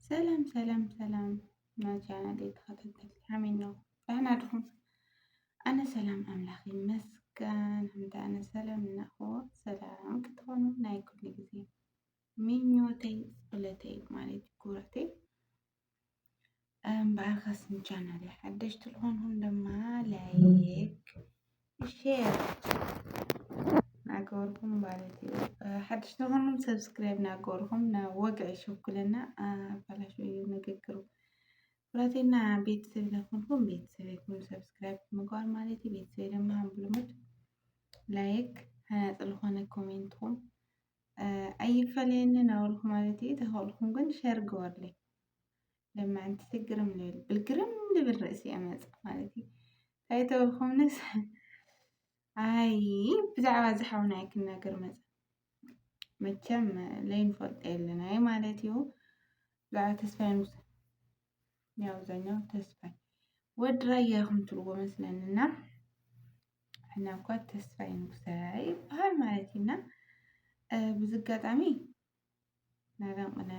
ሰላም ሰላም ሰላም ናጃና ቤት ተኸታተልቲ ሓሜን ነው ዳህና ድኹም ኣነ ሰላም ኣምላኽ ይመስገን እንተ ኣነ ሰላም እናኾ ሰላም ክትኾኑ ናይ ኩሉ ግዜ ምኞተይ ጸሎተይ ማለት ኩራተይ በኣልካስም ቻናል ሓደሽ ትልኾንኹም ድማ ላይክ ሼር ናገበርኩም ማለት እዩ። ሓደሽ ትልኾንኩም ሰብስክራይብ ናገበርኩም ወግዒ ሸኩልና ኣባላሽ እዩ ንግግሩ ኩራቴና ቤተሰብ ናኾንኩም ቤተሰብ ይኩን ሰብስክራይብ ምግባር ማለት እዩ። ቤተሰብ ድማ ብልሙድ ላይክ ሃናፅ ዝኾነ ኮሜንትኩም ኣይፈለየኒ ናበልኩ ማለት እዩ። ተኸእልኩም ግን ሸር ግበርለይ ለማዕንቲ ትግርም ልብል ብልግርም ልብል ርእሲ ኣመፅ ማለት እዩ እንታይ ተበልኩምንስ ኣይ ብዛዕባ እዚ ሓውና እየ ክናገር መፅ መቸም ለይንፈልጦ የለና እየ ማለት እዩ ብዛዕባ ተስፋይ ምስ ያው ኣብዛኛው ተስፋይ ወዲ ራያ ኢኹም ትብልዎ መስለንና ሕና እኳ ተስፋይ ንጉሰ ይበሃል ማለት እዩና ብዚ ኣጋጣሚ ናበን ቅነ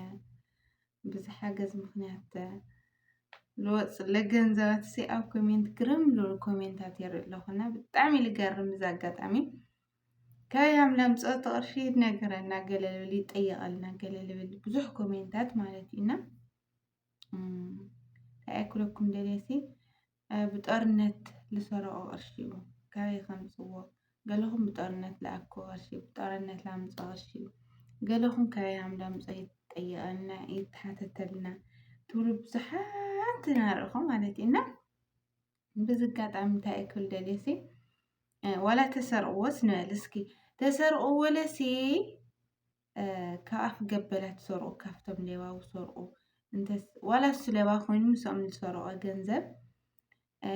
ብዝሓገዝ ምክንያት ልወፅ ለገንዘባት ሲ ኣብ ኮሜንት ግርም ልብሉ ኮሜንታት የርኢ ኣለኹና ብጣዕሚ ልገርም እዚ ኣጋጣሚ ካበይ ሃምላም ፀወቲ ቅርሺ ነገረና ገለ ልብል ይጠየቐልና ገለ ልብል ብዙሕ ኮሜንታት ማለት እዩና እንታይ ኣይክለኩም ደልየሲ ብጦርነት ልሰረቆ ቅርሺ እዩ ካበይ ከምፅዎ ገለኹም ብጦርነት ልኣኮ ቅርሺ ብጦርነት ላምፆ ቅርሺ ገለኹም ካበይ ሃም ዳምፆ ይጠየቀና ይተሓተተልና ትብሉ ብዙሓት ናርኢኹ ማለት እዩ እና በዚ ኣጋጣሚ እንታይ እየ ክብል ደልየሲ ዋላ ተሰርቅዎስ ንበል እስኪ ተሰርቅዎ ለሲ ከኣፍ ገበላ ትሰርቁ ካብቶም ሌባ ውሰርቁ እንተስ ዋላ እሱ ሌባ ኮይኑ ምስኦም ዝሰረቀ ገንዘብ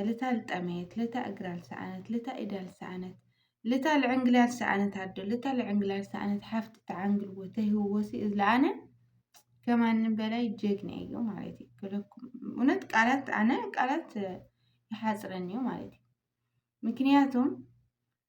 ልታ ልጠመየት ልታ እግራ ልሰኣነት ልታ ኢዳ ልሰኣነት ልታ ልዕንግልያ ዝሰኣነት ኣዶ ልታ ልዕንግላ ዝሰኣነት ሓፍቲ ተዓንግልዎ ተህብዎ ሲ ዝለኣነ ከማንም በላይ ጀግና እዩ ማለት እዩ ክለኩም እውነት ቃላት ኣነ ቃላት ይሓፅረኒ እዩ ማለት እዩ ምክንያቱም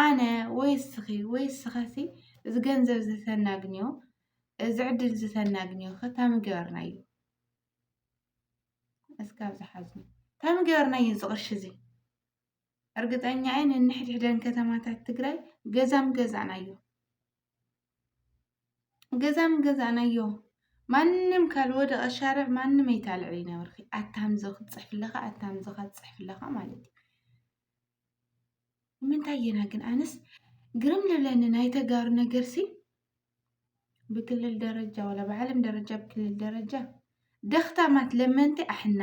ኣነ ወይ እስኺ ወይ እስኻሲ እዚ ገንዘብ እዚ ተናግንዮ እዚ ዕድል እዚ ተናግንዮ ከካብ ምገበርናዮ እስካ ኣብዚ ሓዙ ካብ ምገበርናዮ እዚ ቅርሺ እዚ እርግጠኛ እየ ነንሕድሕደን ከተማታት ትግራይ ገዛ ምገዛእናዮ። ገዛም ገዛእናዮ ማንም ካልወደቐ ሻርዕ ማንም ኣይታልዕል ይነበርኺ ኣታምዞ ክትፅሕፍ ኣለኻ ኣታምዞ ክትፅሕፍ ኣለኻ ማለት እዩ ንምንታይ የና ግን ኣነስ ግርም ልብለኒ ናይ ተጋሩ ነገር ሲ ብክልል ደረጃ ወላ ብዓለም ደረጃ ብክልል ደረጃ ደኽታማት ለመንቲ ኣሕና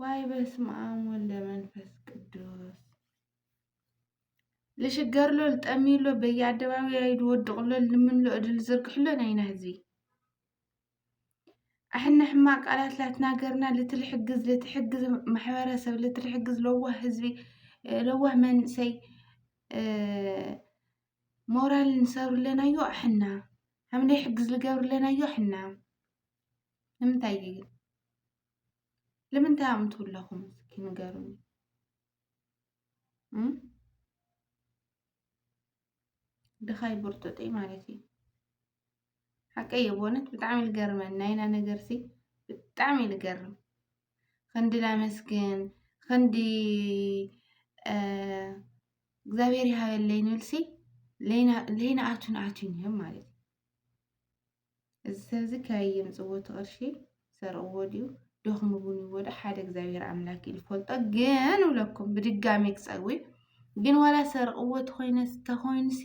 ዋይ በስመኣም ወልደ መንፈስ ቅዱስ ልሽገርሎ ልጠምዩሎ በየኣደባባይ ልወድቕሎ ልምንሎ እድል ዝርግሕሎ ናይና ህዝቢ ኣሕና ሕማቅ ቃላት ላትናገርና ልትልሕግዝ ልትሕግዝ ማሕበረሰብ ልትልሕግዝ ለዋህ ህዝቢ ለዋህ መንእሰይ ሞራል ንሰብርለናዮ ኣሕና ሓምለ ሕግዝ ልገብርለናዮ ኣሕና ንምንታይ እዩ ግን ንምንታይ እዮም ትብለኹም እስኪ ንገሩኒ ድኻይ ብርጡጢ ማለት እዩ ሓቀይ እዩ በእውነት ብጣዕሚ ልገርመን ናይና ነገርሲ ብጣዕሚ ልገርም ክንዲ ላመስግን ክንዲ እግዚኣብሔር ይሃበለይ ንብልሲ ለይና ኣቱን ኣቱን እዮም ማለት እዩ እዚ ሰብዚ ካበይ የምጽዎ እቲ ቅርሺ ሰርቅዎ ድዩ ደኽሙ ውን ይዎ ዶ ሓደ እግዚኣብሔር ኣምላክ እዩ ዝፈልጦ ግን እብለኩም ብድጋሚ ክጸዊ ግን ዋላ ሰርቅዎ ተኾይነ ተኾይንሲ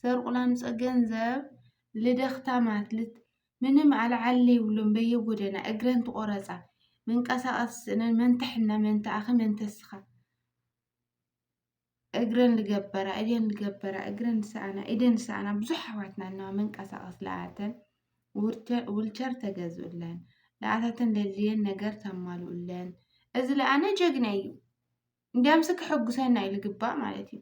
ሰርቁ ላምጸ ገንዘብ ልደኽታማት ልት ምንም ኣልዓሊ ይብሉም በየጎደና እግረን ትቆረጻ መንቀሳቀስ ስእነን መንተ ሕነ መንተ ኣኺ መንተ ስኻ እግረን ዝገበራ ኢደን ዝገበራ እግረን ዝሰኣና ኢደን ዝሰኣና ብዙሕ ኣሕዋትና ኣለዋ መንቀሳቐሲ ለኣተን ውልቸር ተገዝኡለን ለኣታተን ዘድልየን ነገር ተማልኡለን እዚ ለኣነ ጀግና እዩ እንዲያምስ ከሐጉሰና እዩ ዝግባእ ማለት እዩ።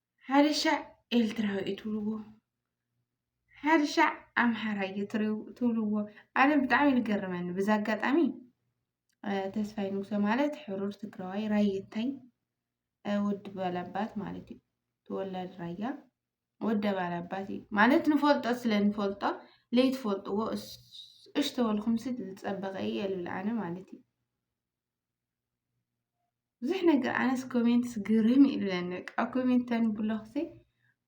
ሓደ ሻዕ ኤርትራዊ እዩ ትብልዎ ሓደ ሻዕ ኣምሓራ እዩ ትብልዎ ኣነ ብጣዕሚ እዩ ዝገርመኒ በዚ ኣጋጣሚ ተስፋይ ንጉሰ ማለት ሕሩር ትግራዋይ ራየታይ ወዲ ባላባት ማለት እዩ ተወላዲ ራያ ወዲ ባላባት እዩ ማለት ንፈልጦ ስለ ንፈልጦ ለይትፈልጥዎ እሽ ተበልኩምሲ ዝፀበቐ እዩ የልብል ኣነ ማለት እዩ ብዙሕ ነገር ኣነስ ኮሜንትስ ግርም እዩ ዝብለኒ በቃ ኣብ ኮሜንት ተንብሎ ኽሲ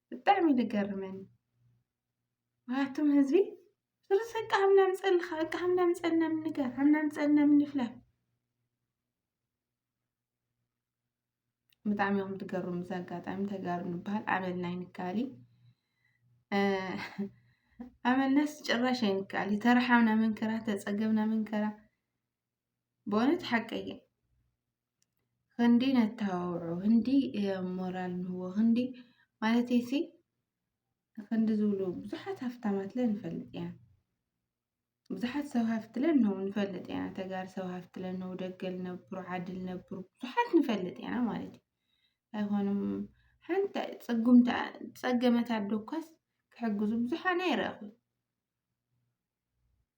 ብጣዕሚ እዩ ዝገርመኒ ምክንያቱም ህዝቢ ስለዚ በቃ ሃምና ምፀልኻ በቃ ሃምና ምፀልና ምንጋር ሃምና ምፀልና ምንፍላጥ ብጣዕሚ እዮም ትገርሙ እዚ ኣጋጣሚ ተጋሩ ንበሃል ኣመልና ይንካሊ ኣመልናስ ጭራሽ ኣይንካሊ ተረሓምና መንከራ ተፀገብና መንከራ በእውነት ሓቀየ ክንዲ ነተባብዖ ክንዲ ሞራል ንህቦ ክንዲ ማለት ሲ ክንዲ ዝብሉ ብዙሓት ሃፍታማት ለ ንፈልጥ ኢና ብዙሓት ሰብ ሃፍቲ ለ ን ንፈልጥ ኢና ተጋር ሰብ ሃፍቲ ለ ነው ደገል ነብሩ ዓድል ነብሩ ብዙሓት ንፈልጥ ኢና ማለት እዩ ኣይኮኑም ሓንቲ ፅጉም ፀገመት ኣዶ እኳስ ክሕግዙ ብዙሓ ናይ ይረኣኹ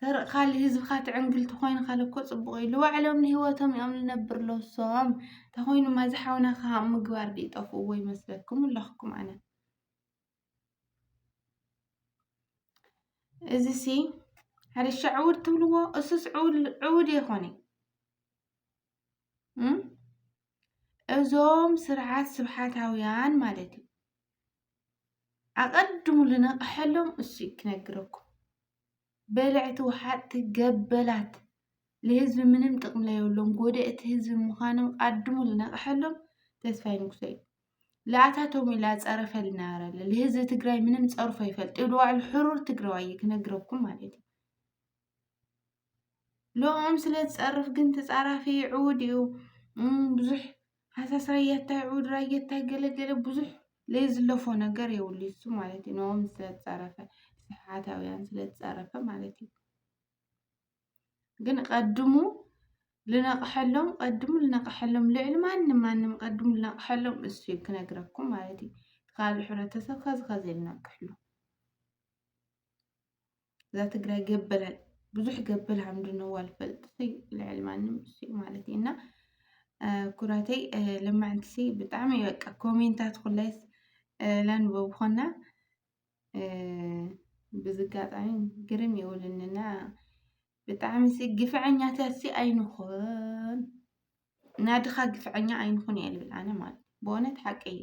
ሰረቅ ካሊ ህዝብካ ትዕንግል ተኮይንካ ለኮ ጽቡቅ ኢዩ ልባዕሎም ንሂወቶም ኢዮም ልነብር ሎሶም ተኮይኑ ማዚ ሓውና ከሃም ምግባር ድዩ ጠፍእዎ ይመስለኩም ኣለኩም ኣነ እዚ ሲ ሕርሻ ዕውድ ትብልዎ እሱስ ዕውድ የኮነ እዞም ስርዓት ስብሓታውያን ማለት እዩ ኣቐድሙ ልነቕሐሎም እሱ እዩ ክነግረኩም። በለዕቲ ወሓጥቲ ገበላት ልህዝቢ ምንም ጥቕሚ ለየብሎም ጎደእቲ ህዝቢ ምዃኖም ኣድሙ ልነቕሐሎም ተስፋይ ንጉሰ እዩ። ለኣታቶም ኢላ ጸረፈ ልነበረለ ልህዝቢ ትግራይ ምንም ጸርፎ ይፈልጥ እዩ። ብዋዕሉ ሕሩር ትግራዋይ እዩ ክነግረኩም ማለት እዩ። ልኦም ስለ ዝጸርፍ ግን ተጻራፊ ዕዉድ እዩ ብዙሕ ሃሳስ ራየታይ ዕዉድ ራየታይ ገለገለ ብዙሕ ለይዝለፎ ነገር የብሉ እሱ ማለት እዩ ንኦም ስለ ዝጸረፈ ስሓታውያን ስለ ዝጸረፈ ማለት እዩ ግን ቀድሙ ልነቕሐሎም ቀድሙ ልነቕሐሎም ልዕሊ ማንም ማንም ቀድሙ ልነቕሐሎም እሱ እዩ ክነግረኩም ማለት እዩ ትካል ሕብረተሰብ ከዚ ከዚ ልነቅሕሉ እዛ ትግራይ ገበል ብዙሕ ገበል ሃምድነዋ ልፈልጥሲ ልዕሊ ማንም እሱ ማለት እዩ እና ኩራተይ ለማዕንትሲ ብጣዕሚ እዩ በቃ ኮሜንታት ኩላይስ ለንበብኾና ብዝጋጣሚ ግርም ይውልንና ብጣዕሚ ሲ ግፍዐኛታት ሲ ኣይንኹን ናድኻ ግፍዐኛ ኣይንኹን እየ ልብል ኣነ ማለት ብእውነት ሓቂ እዩ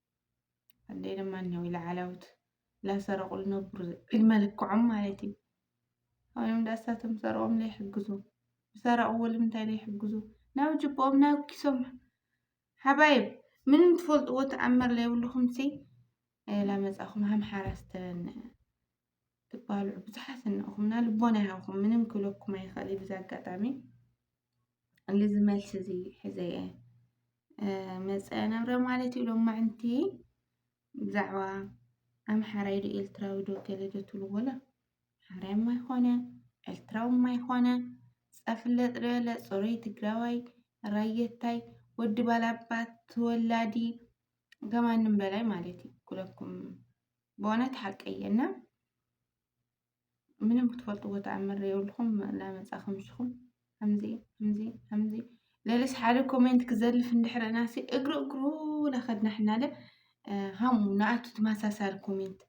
ኣደይ ድማ እኒሆ ኢላዓላዊት ላሰረቁ ልነብሩ ዕድመ ልክዖም ማለት እዩ። ኣዮም ዳሳቶም ሰርቆም ዘይሕግዙ ዝሰረቅዎ ልምንታይ ዘይሕግዙ ናብ ጅብኦም ናብ ኪሶም ሓባይብ ምንም ትፈልጥዎ ተኣምር ዘይብልኹም ሲ ላመፃኹም ሃምሓራ ስተን ትባልዑ ብዙሓት እንኹምና ልቦና ይሃብኩም ምንም ክብለኩም ኣይኽእል እዩ ብዛ ኣጋጣሚ ልዚ መልሲ እዚ ሕዘ እየ መፀ ነብረ ማለት እዩ ሎማዕንቲ ብዛዕባ ኣምሓራይ ዶ ኤርትራዊ ዶ ገለ ዶ ትብሉ ወላ ሓራይ ማይኮነ ኤርትራዊ ማይኮነ ፀፍለጥ ዶ የለ ፅሩይ ትግራዋይ ራየታይ ወዲ ባላባት ተወላዲ ከማንም በላይ ማለት እዩ ኩለኩም ብእውነት ሓቀየ እና ምንም ክትፈልጥዎ ተኣምር የብልኩም እናመፃኹም ንስኹም ከምዚ ከምዚ ከምዚ ለለስ ሓደ ኮሜንት ክዘልፍ እንድሕረና ሲ እግሪ እግሩ ላኸድና ሕናለ ሃሙ ንኣቱ ተመሳሳሊ ኮሜንት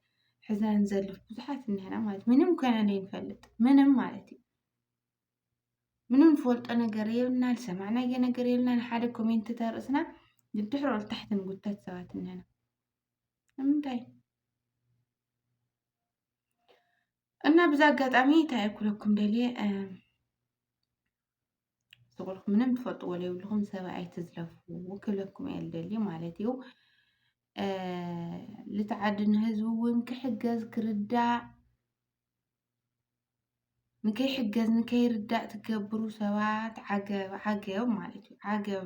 ሕዛ ንዘልፍ ብዙሓት እንሄና ማለት ምንም ኮይና ዘይንፈልጥ ምንም ማለት እዩ ምንም ንፈልጦ ነገር የብልና ዝሰማዕናዮ ነገር የብልና ንሓደ ኮሜንት ተርእስና ንድሕሮ ታሕቲ ንጉተት ሰባት እንሄና ንምንታይ እና ብዛ ኣጋጣሚ እንታይ ክብለኩም ደልየ ዝቑልኩ ምንም ትፈልጥዎ ዘይብልኹም ሰብ ኣይትዝለፉ ክብለኩም እየ ልደሊ ማለት እዩ ልትዓድን ህዝቢ እውን ክሕገዝ ክርዳእ ንከይሕገዝ ንከይርዳእ ትገብሩ ሰባት ዓገብ ዓገብ ማለት እዩ ዓገብ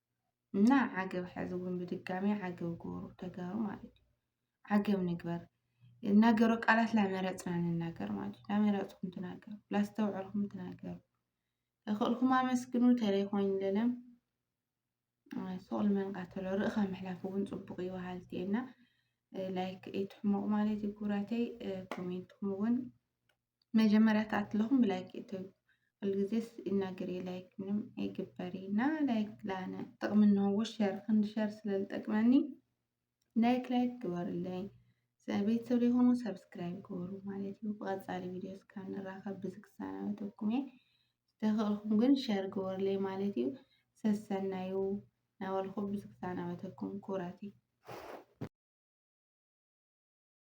እና ዓገብ ሕዚ እውን ብድጋሚ ዓገብ ግበሩ ተጋሩ ማለት እዩ። ዓገብ ንግበር እናገሮ ቃላት ላመረፅና ንናገር ማለት እዩ። ላመረፅኩም ትናገሩ፣ ላስተውዐልኩም ትናገሩ። ተኽእልኩም ኣመስግኑ ተለይኮን ለለም ሶል መንቃተሎ ርእኻ ምሕላፍ እውን ፅቡቅ እዩ በሃልቲ እና ላይክ ኢትሕሞቅ ማለት እዩ ክብራተይ ኮሜንትኩም እውን መጀመርያ ተኣትለኹም ብላይክ እተዩ ኩልግዜስ ይናገር እየ ላይክ ምንም ኣይግበር እዩ እና ላይክ ላነ ጥቕሚ እንሆዎ ሸር ክንዲ ሸር ስለዝጠቅመኒ ላይክ ላይክ ግበሩለይ ቤተሰብ ዘይኮኑ ሰብስክራይብ ግበሩ ማለት እዩ ብቐፃሊ ቪድዮ እስካ ንራኸብ ብዚ ክሰናበተኩም እየ ዝተኽእልኩም ግን ሸር ግበሩለይ ማለት እዩ ሰሰናዩ ናበልኹ ብዚ ክሰናበተኩም ኩራት እዩ